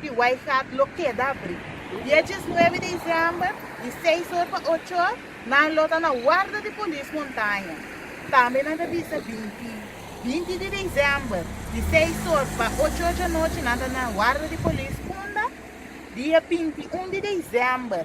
di Wijngaard lo keda abrí. Dies djes nuebe di diciember, di seis or pa ocho or, nan lo ta na warda di polis montaña. Tambe nan ta bisa binti, binti di diciember, di seis or pa ocho or djanochi nan ta na warda di polis kunda, dia binti un di diciember,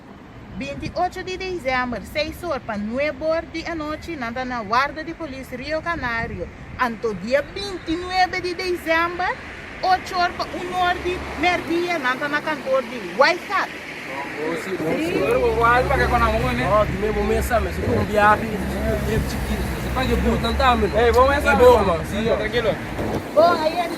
28 di diciember, seis or pa nueb or di anochi, nan ta na warda di polis Rio Canario. Anto dia 29 di diciember, ocho or pa un or di merdia, nan ta na kantor di White Cat. Bon, aye di.